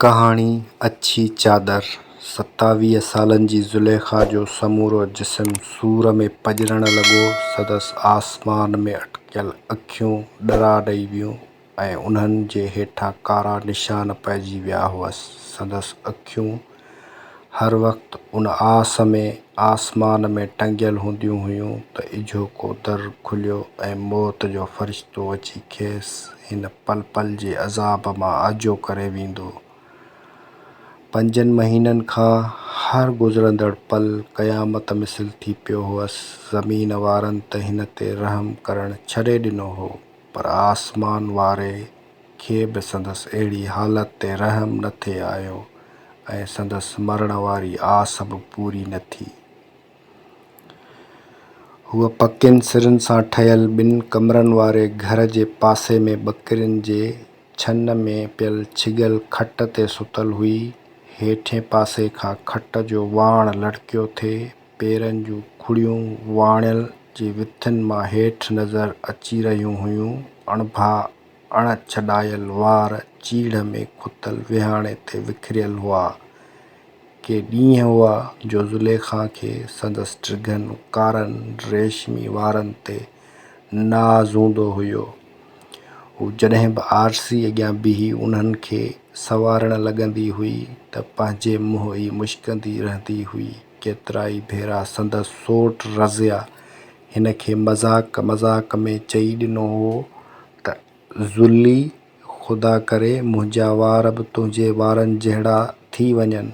ڪهاڻي، اڇي چادر، ستاويهه سالن جي زليخا جو سمورو جسم سور ۾ پڄرڻ لڳو، سندس آسمان ۾ اٽڪيل اکيون ڏرا ڏئي ويون ۽ انهن جي هيٺان ڪارا نشان پئجي ويا هئس، سندس اکيون هر وقت ان آس ۾ آسمان ۾ ٽنگيل هونديون هيون ته اجهوڪو در کليو ۽ موت جو فرشتو اچي کيس هن پل پل جي عذاب مان آجو ڪري ويندو. پنجن مهينن کان هر گذرندڙ پل قيامت مثل ٿي پيو هئس. زمين وارن ته هن تي رحم ڪرڻ ڇڏي ڏنو هو پر آسمان واري. کي به سندس اهڙي حالت تي رحم نه ٿي آيو ۽ سندس مرڻ واري آس به پوري نه ٿي. هوء پڪين سرن سان ٺهيل ٻن ڪمرن واري گهر جي پاسي ۾ ٻڪرين جي ڇن ۾ پيل ڇڳيل کٽ تي ستل هئي. هيٺئين پاسي کان کٽ جو واڻ لڙڪيو ٿي پيرن جون کڙيون واڻيل جي وٿين مان هيٺ نظر اچي رهيون هيون. اڻڀا اڻ ڇڏايل وار چيڙهه ۾ کتل ويهاڻي تي وکريل هئا. ڪي ڏينهن هئا جو زليخا کي سندس ڊگهن ڪارن ريشمي وارن تي ناز هوندو هيو. هو جڏهن به آرسي اڳيان بيهي انهن کي سنوارڻ لڳندي هئي ته پنهنجي منهن ئي مشڪندي رهندي هئي. ڪيترائي ڀيرا سندس سوٽ رضيه هن کي مذاق مذاق ۾ چئي ڏنو هو ته زلي! خدا ڪري منهنجا وار به تنهنجي وارن جهڙا ٿي وڃن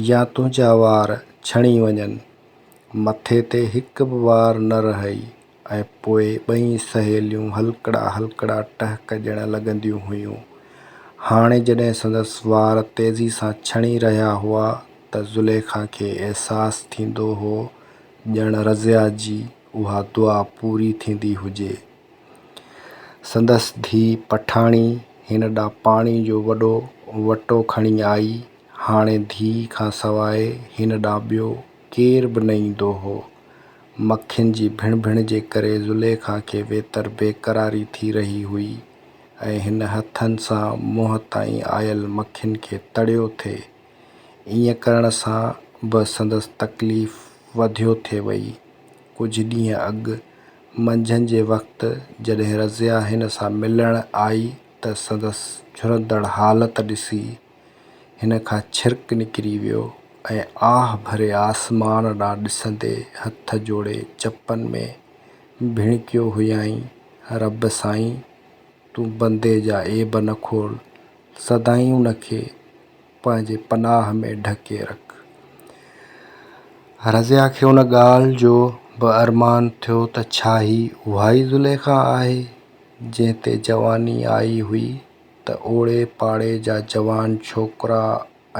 يا تنهنجا وار ڇڻي وڃن. مٿي تي هڪ به وار نه رهئي ۽ پوء ٻئي سهيليون هلڪڙا هلڪڙا ٽهڪ ڏيڻ لڳنديون هيون. هاڻي جڏهن سندس وار تيزي سان ڇڻي رهيا هئا ته زليخا کي احساس ٿيندو هو ڄڻ رضيا جي اها دعا پوري ٿيندي هجي. سندس ڌيء پٺاڻي هن ڏانهن پاڻي جو وڏو وٽو کڻي آئي. هاڻي ڌيء کان سواء هن ڏانهن ٻيو ڪير به نه ايندو هو. مکين جي ڀڻ ڀڻ جي ڪري زليخا کي ويتر بيقراري ٿي رهي هئي ۽ هن هٿن سان منهن تائين آيل مکين کي تڙيو ٿي ائين ڪرڻ سان به سندس تڪليف وڌيو ٿي وئي. ڪجهه ڏينهن اڳ منجهند جي وقت جڏهن رضيه هن سان ملڻ آئي ته سندس جهرندڙ حالت ڏسي هن کان ڇرڪ نڪري ويو ۽ آهه ڀري آسمان ڏانهن ڏسندي هٿ جوڙي چپن ۾ ڀڻڪيو هيائين، رب سائين! تون بندي جا عيب نه کول، سدائين ان کي پنهنجي پناهه ۾ ڍڪي رک. رضيه کي ان ڳالهه جو به ارمان ٿيو ته ڇا هي اهائي زليخا آهي، جنهن تي جواني آئي هئي ته اوڙي پاڙي جا جوان ڇوڪرا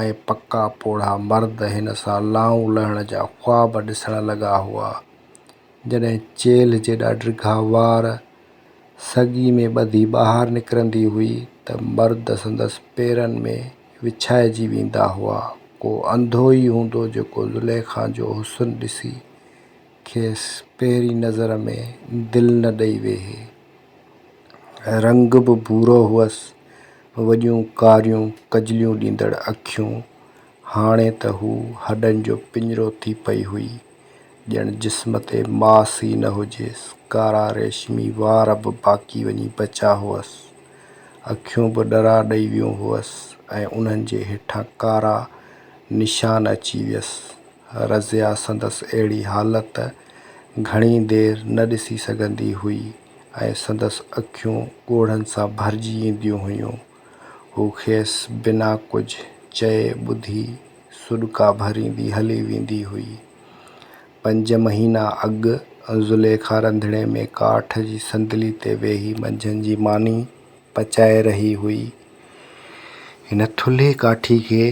۽ پڪا پوڙها مرد هن سان لانئون لهڻ جا خواب ڏسڻ لڳا هئا، جڏهن چيلهه جيڏا ڊگها وار سڳي ۾ ٻڌي ٻاهر نڪرندي هئي ته مرد سندس پيرن ۾ وڇائجي ويندا هئا. ڪو انڌو ئي هوندو جيڪو زليخا جو حسن ڏسي کيس پهرين نظر ۾ دل نه ڏئي ويهي. رنگ به ڀورو هئس، وڏيون ڪاريون ڪجليون ڏيندڙ اکيون، هاڻي ته هوء هڏن جو پڃرو ٿي پئي هئي، ڄڻ جسم تي ماس ئي نه هجيس، ڪارا ريشمي وار به باقي وڃي بچا هئس، اکيون به ڏرا ڏئي ويون هئس ۽ انهن جي هيٺان ڪارا نشان اچي ويس. رضيه سندس اهڙي حالت گهڻي دير نه ڏسي سگهندي هئي ۽ سندس اکيون ڳوڙهن سان ڀرجي اينديون هيون. هو کيس بنا ڪجهه چئي ٻڌي سڏڪا ڀريندي هلي ويندي هئي. پنج مهينا اڳ زليخا رنڌڻي ۾ ڪاٺ جي صندلي تي ويهي منجهند جي ماني پچائي رهي هئي. هن ٿلهي ڪاٺي کي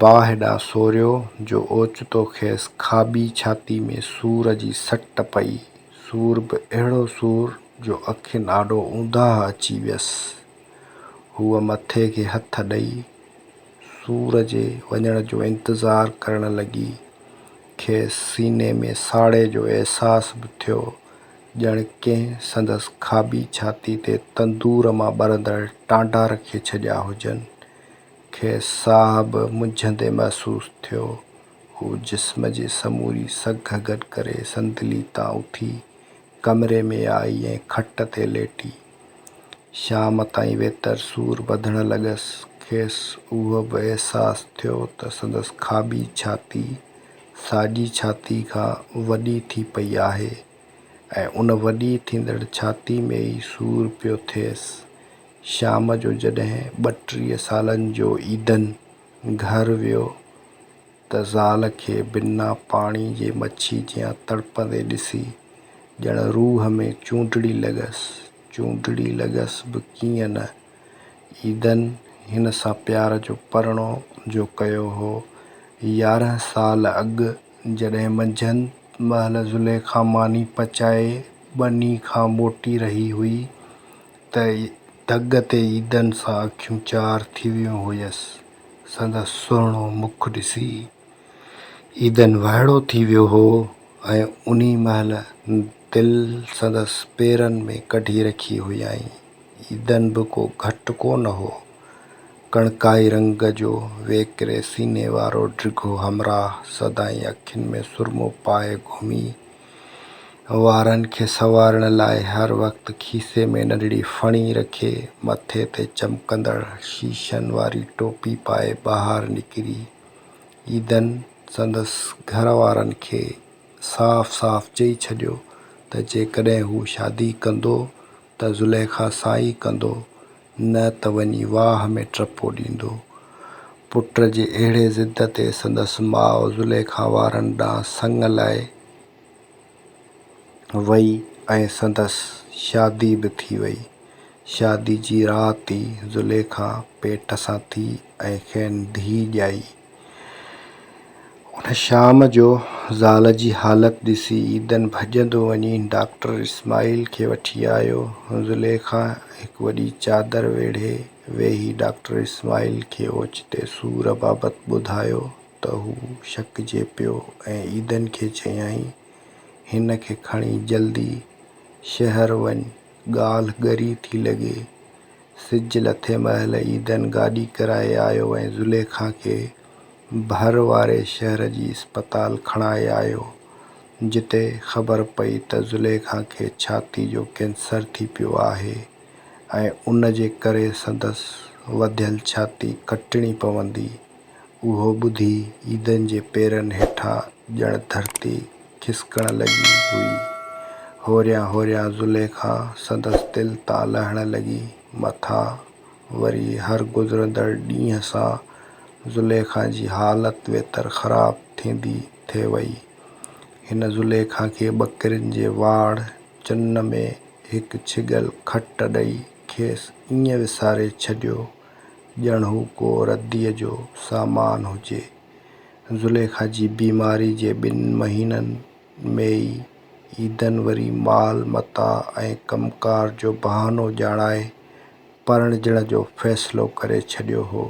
باهه ڏانهن سوريو جو اوچتو کيس کاٻي ڇاتي ۾ سور جي سٽ پئي، سور به اهڙو سور جو اکين آڏو اونداهه اچي ويس. هوء مٿي کي هٿ ڏئي، سور جي وڃڻ جو انتظار ڪرڻ لڳي. کيس سيني ۾ ساڙي جو احساس به ٿيو، ڄڻ ڪنهن سندس کاٻي ڇاتي تي تندور مان ٻرندڙ ٽانڊا رکي ڇڏيا هجن. کيس ساهه به منجهندي محسوس ٿيو. هوء جسم جي سموري سگهه گڏ ڪري صندلي تان اٿي، ڪمري ۾ آئي ۽ کٽ تي ليٽي. شام تائين ويتر سور وڌڻ لڳس. کيس اهو به احساس ٿيو ته سندس کاٻي ڇاتي ساڄي ڇاتي کان وڏي ٿي پئي آهي ۽ ان وڏي ٿيندڙ ڇاتي ۾ ئي سور پيو ٿئيس. شام جو جڏهن ٻه ٽيهه سالن جو ايڌن گهر ويو. ته زال کي بنا پاڻي جي مڇي جيان تڙپندي ڏسي ڄڻ روح ۾ چونڊڙي لڳس. چونڊڙي لڳس به ڪيئن نه. عيدن هن سان پيار جو پرڻو جو ڪيو هو. يارهن سال اڳ جڏهن منجهند مهل زليخا ماني پچائي ٻني کان موٽي رهي هئي. ته ڍڳ تي عيدن سان اکيون چار ٿي ويون هيس. سندس سهڻو مک ڏسي عيدن وهڙو ٿي ويو هو ۽ انهي مهل دل سندس پيرن ۾ ڪڍي رکي هيائين. عيدن به ڪو گهٽ ڪو نه هو. ڪڻڪائي رنگ جو ويڪري سيني وارو ڊگهو همراهه سدائين اکين ۾ سرمو پائي گهمي وارن کي سنوارڻ لاء هر وقت کيسي ۾ ننڍڙي ڦڻي رکي، مٿي تي چمڪندڙ شيشن واري ٽوپي پائي ٻاهر نڪري عيدن سندس گهر وارن کي صاف صاف چئي ڇڏيو ته جيڪڏهن هو شادي ڪندو ته زليخا سائي ڪندو، نه ته وڃي واهه ۾ ٽپو ڏيندو. پٽ جي اهڙي ضد تي سندس ماء زليخا وارن ڏانهن سڱ لائي وئي ۽ سندس شادي به ٿي وئي. شادي جي رات ئي زليخا پيٽ سان ٿي ۽ کين ڌيء ڄائي. ان شام جو زال جي حالت ڏسي عيدن ڀڄندو وڃي ڊاڪٽر اسماعيل کي وٺي آيو. زليخا هڪ وڏي چادر ويڙهي ويهي ڊاڪٽر اسماعيل کي اوچتي سور بابت ٻڌايو ته هو شڪجي پيو ۽ عيدن کي چيائين، هن کي کڻي جلدي شهر وڃ، ڳالهه ڳري ٿي لڳي. سج لٿي مهل عيدن گاڏي ڪرائي آيو ۽ زليخا کي ڀر واري شهر جي اسپتال کڻائي آيو، جتي خبر پئي ته زليخا کي ڇاتي جو ڪينسر ٿي پيو آهي ۽ ان جي ڪري سندس وڌيل ڇاتي ڪٽڻي پوندي. اهو ٻڌي عيدن جي پيرن هيٺان ڄڻ ڌرتي کسڪڻ لڳي هئي. هوريان هوريان زليخا سندس دل تان لهڻ لڳي. مٿان وري هر گذرندڙ ڏينهن سان زليخا جي حالت ويتر خراب ٿيندي ٿي وئي. هن زليخا کي ٻڪرين جي واڙ چن ۾ هڪ ڇڳل کٽ ڏئي کيس ائين وساري ڇڏيو. ڄڻ هو ڪو رديء جو سامان هجي. زليخا جي بيماري جي ٻن مهينن ۾ ئي عيدن وري مال متاع ۽ ڪم ڪار جو بهانو ڄاڻائي پرڻجڻ جو فيصلو ڪري ڇڏيو هو.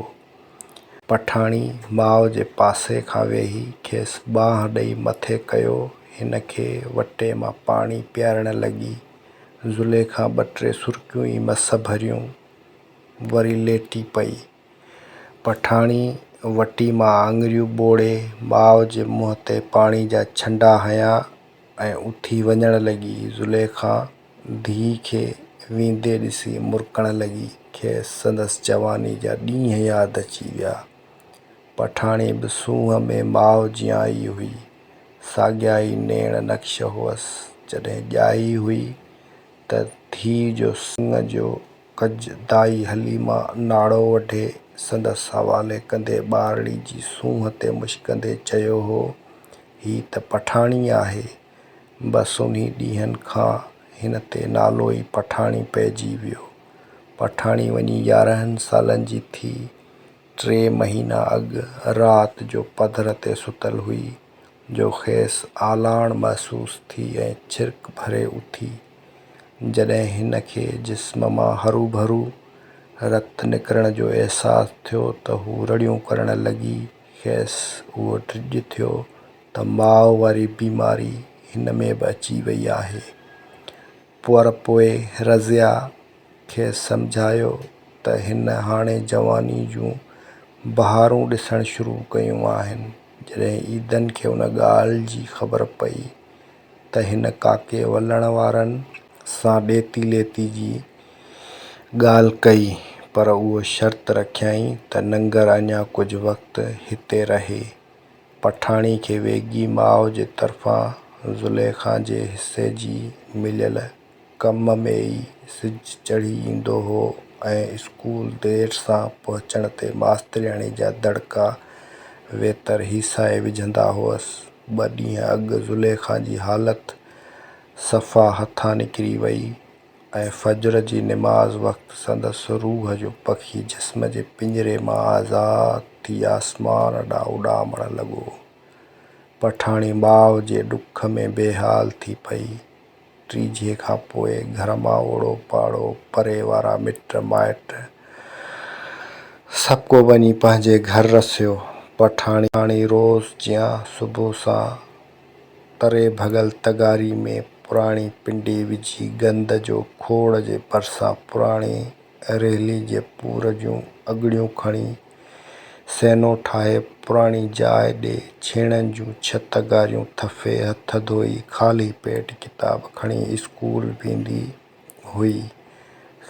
پٺاڻي ماء جي پاسي کان ويهي کيس ٻانهن ڏئي مٿي ڪيو، هن کي وٽي مان پاڻي پيارڻ لڳي. زليخا ٻه ٽي سرڪيون ئي مس ڀريون. وري ليٽي پئي. پٺاڻي وٽي مان آڱريون ٻوڙي ماء جي منهن تي پاڻي جا ڇنڊا هنيا ۽ اٿي وڃڻ لڳي. زليخا ڌيء کي ويندي ڏسي مرڪڻ لڳي. کيس سندس جواني جا ڏينهن ياد اچي ويا. پٺاڻي به سونهن ۾ ماء جيان ئي هئي. ساڳيا ئي نيڻ نقش هئس. جڏهن ڄائي هئي ته ڌيء جو سڱ جو ڪج دائي حليما ناڙو وٺي سندس حوالي ڪندي ٻارڙي جي سونهن تي مشڪندي چيو هو، هي ته پٺاڻي آهي. بس انهي ڏينهن کان هن تي نالو ئي پٺاڻي پئجي ويو. پٺاڻي وڃي يارهن سالن جي ٿي. ٽي مهينا اڳ رات جو پڌر تي ستل هئي جو کيس آلاڻ محسوس ٿي ۽ ڇرڪ ڀري اٿي. جڏهن هن کي جسم مان هروڀرو رت نڪرڻ جو احساس ٿيو ته هو رڙيون ڪرڻ لڳي. کيس اهو ڊڄ ٿيو ته ماء واري بيماري هن ۾ به اچي وئي آهي. پر پوء رضيه کيس سمجهايو ته هن هاڻي جواني جون بهارون ڏسڻ شروع ڪيون آهن. جڏهن عيدن کي ان ڳالهه جي خبر پئي ته هن ڪاڪي ولڻ وارن سان ڏيتي ليتي جي ڳالهه ڪئي، پر اهو شرط رکيائين ته ننگر اڃا ڪجهه وقت هتي رهي. پٺاڻي کي ويڳي ماء جي طرفان زليخا جي حصي جي مليل ڪم ۾ ئي سج چڙهي ايندو هو ۽ اسڪول دير سان پهچڻ تي ماسترياڻي جا دڙڪا ويتر هيسائي وجهندا هئس. ٻه ڏينهن اڳ زليخا جي حالت صفا هٿان نڪري وئي ۽ فجر جي نماز وقت سندس روح جو پکي جسم جي پڃري مان آزاد ٿي آسمان ڏانهن اڏامڻ لڳو. پٺاڻي ماء جي ڏک ۾ بيحال ٿي پئي. ٽيجهي کان پوء گهر مان اوڙو پاڙو، پري وارا مٽ مائٽ سڀ ڪو وڃي پنهنجي گهر رسيو. پٺاڻي روز جيان صبح سان تري ڀڳل تغاري ۾ پراڻي پنڊي وجهي گند جو کوڙ جي ڀرسان پراڻي ريلي جي پور جون اڳڙيون کڻي سينو ٺاهي پراڻي جاء ڏي ڇيڻن جون ڇت ڳاريون ٿڦي هٿ ڌوئي خالي پيٽ ڪتاب کڻي اسڪول ويندي هئي.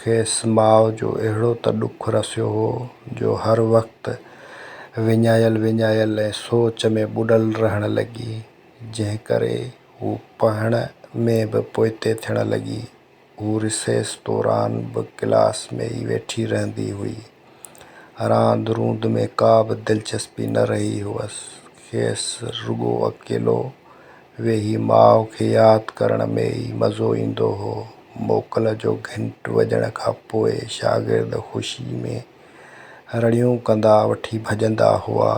کيس ماء جو اهڙو ته ڏک رسيو هو جو هر وقت وڃايل وڃايل ۽ سوچ ۾ ٻڏل رهڻ لڳي جنهن ڪري هوء پڙهڻ ۾ به پوئتي ٿيڻ لڳي هوء رسيس دوران به ڪلاس ۾ ئي ويٺي رهندي هئي. راند روند ۾ ڪا به دلچسپي نه رهي هئس. کيس رڳو اڪيلو ويهي ماء کي ياد ڪرڻ ۾ ئي مزو ايندو هو. موڪل جو گهنٽ وڄڻ کان پوء شاگرد خوشي ۾ رڙيون ڪندا وٺي ڀڄندا هئا،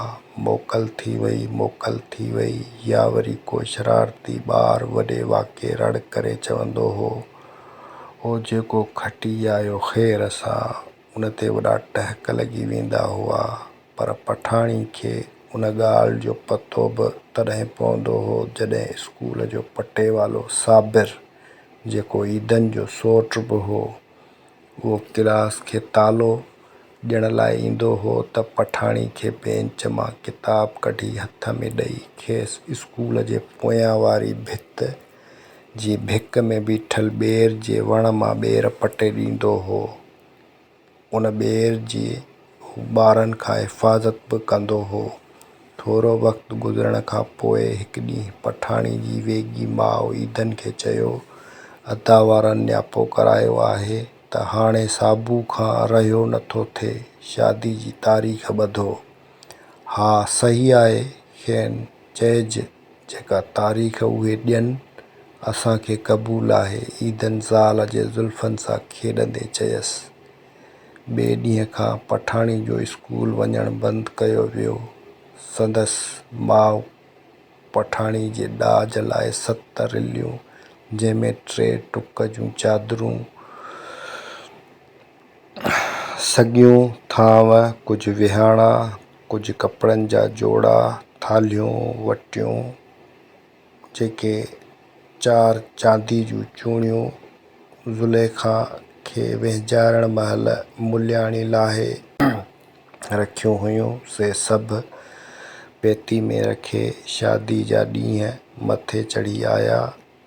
موڪل ٿي وئي، موڪل ٿي وئي، يا وري ڪو شرارتي ٻار وڏي واڪي رڙ ڪري چوندو هو، او جيڪو کٽي آيو خير سان، ان تي وڏا ٽهڪ لڳي ويندا هئا، پر پٺاڻي کي ان ڳالهه جو پتو به تڏهن پوندو هو، جڏهن اسڪول جو پٽيوالو صابر، جيڪو عيدن جو سورٽ به هو، هو ڪلاس کي تالو ڏيڻ لاء ايندو هو ته پٺاڻي کي بينچ مان ڪتاب ڪڍي هٿ ۾ ڏئي کيس اسڪول جي پويان واري ڀت جي ڀيڪ ۾ بيٺل ٻير جي وڻ مان ٻير پٽي ڏيندو هو. ان ٻير جي هو ٻارن کان حفاظت به ڪندو هو. ٿورو وقت گذرڻ کان پوء هڪ ڏينهن پٺاڻي جي ويڳي ماء عيدن کي چيو، ادا وارن نياپو ڪرايو آهي ته هاڻي صابو کان رهيو نٿو ٿئي، شادي جي تاريخ ٻڌو. ها صحيح آهي، کين چئج جيڪا تاريخ اهي ڏين، اسان کي قبول آهي، عيدن زال جي زلفن سان کيڏندي چيس. ٻئي ڏينهن کان پٺاڻي جو اسڪول وڃڻ بند ڪيو ويو. سندس ماء پٺاڻي جي ڏاج لاء ست رليون، جنهن ۾ ٽي ٽڪ جون چادرون، سڳيون ٿانو، ڪجهه وهاڻا، ڪجهه ڪپڙن جا جوڙا، ٿالهيون، وٽيون، جيڪي چار چاندي جون چوڻيون زليخا کي وهنجارڻ مهل ملياڻي لاهي رکيون هيون، سي سڀ پيتي ۾ رکي شاديء جا ڏينهن مٿي چڙهي آيا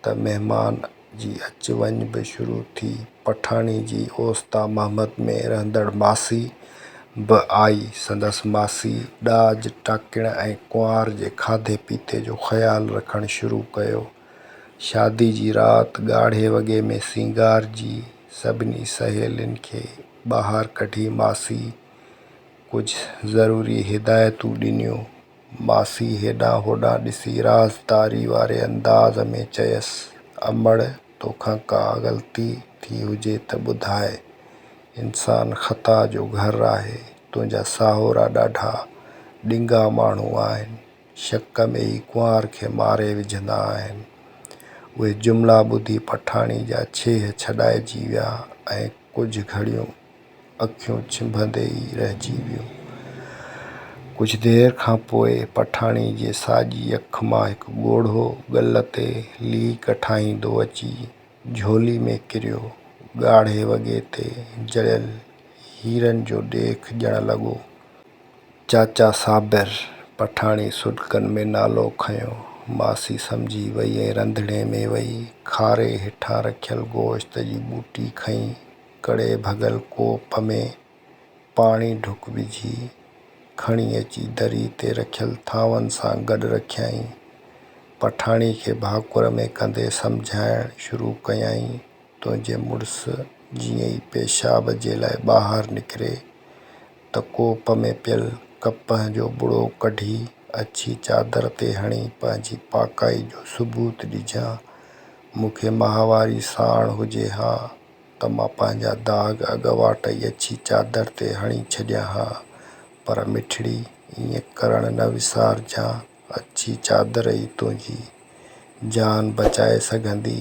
ته مهمان جي اچ وڃ به شروع ٿي. پٺاڻي جي اوستا محمد ۾ رهندڙ ماسي به آئي. سندس ماسي ڏاج ٽاڪڻ ۽ ڪنوار جي کاڌي پيتي جو خيال رکڻ شروع ڪيو. شادي جي رات ڳاڙهي وڳي ۾ سينگارجي سڀني سهيلين کي ٻاهر ڪڍي ماسي ڪجهه ضروري هدايتون ڏنيون. ماسي هيڏانهن هوڏانهن ڏسي رازداري واري انداز ۾ چيس، امڙ! توکان ڪا غلطي ٿي هجي ته ٻڌاء. انسان خطا جو گهر آهي. تنهنجا ساهورا ڏاڍا ڏنگا ماڻهو آهن. شڪ ۾ ئي ڪنوار کي ماري وجهندا آهن. اهي جملا ٻڌي پٺاڻي جا ڇيهه ڇڏائجي ويا ۽ ڪجهه گهڙيون اکيون ڇنڀندي ئي رهجي ويو. ڪجهه دير کان پوء پٺاڻي جي ساڄي اک مان هڪ ڳوڙهو ڳل تي ليڪ ٺاهيندو اچي جهولي ۾ ڪريو. ڳاڙهي وڳي تي جڙيل هيرن جو ڏيک ڄڻ لڳو. چاچا صابر! پٺاڻي سڏڪن ۾ نالو کنيو. ماسي سمجهي وئي ۽ رنڌڻي ۾ وئي کاري هيٺان رکيل گوشت جي ٻوٽي کنئي ڪڙي ڀڳل ڪوپ ۾ پاڻي ڍڪ وجهي، کڻي اچي دريء تي رکيل ٿانون سان گڏ رکيائين. پٺاڻي کي ڀاڪر ۾ ڪندي سمجهائڻ شروع ڪيائين، تنهنجي مڙس جيئن ئي پيشاب جي لاء ٻاهر نڪري، ته ڪوپ ۾ پيل ڪپهه جو ٻڙو ڪڍي، اڇي چادر تي هڻي پنهنجي پاڪائي جو ثبوت ڏجان. مون کي ماهواري ساڻ هجي ها، ته مان پنهنجا داغ اڳواٽ ئي اڇي چادر تي هڻي ڇڏيان ها، پر مٺڙي ائين ڪرڻ نه وسارجان، اڇي چادر ئي تنهنجي جان بچائي سگهندي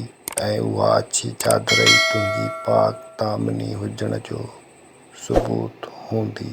۽ اها اڇي چادر ئي تنهنجي پاڪ دامني هجڻ جو ثبوت هوندي.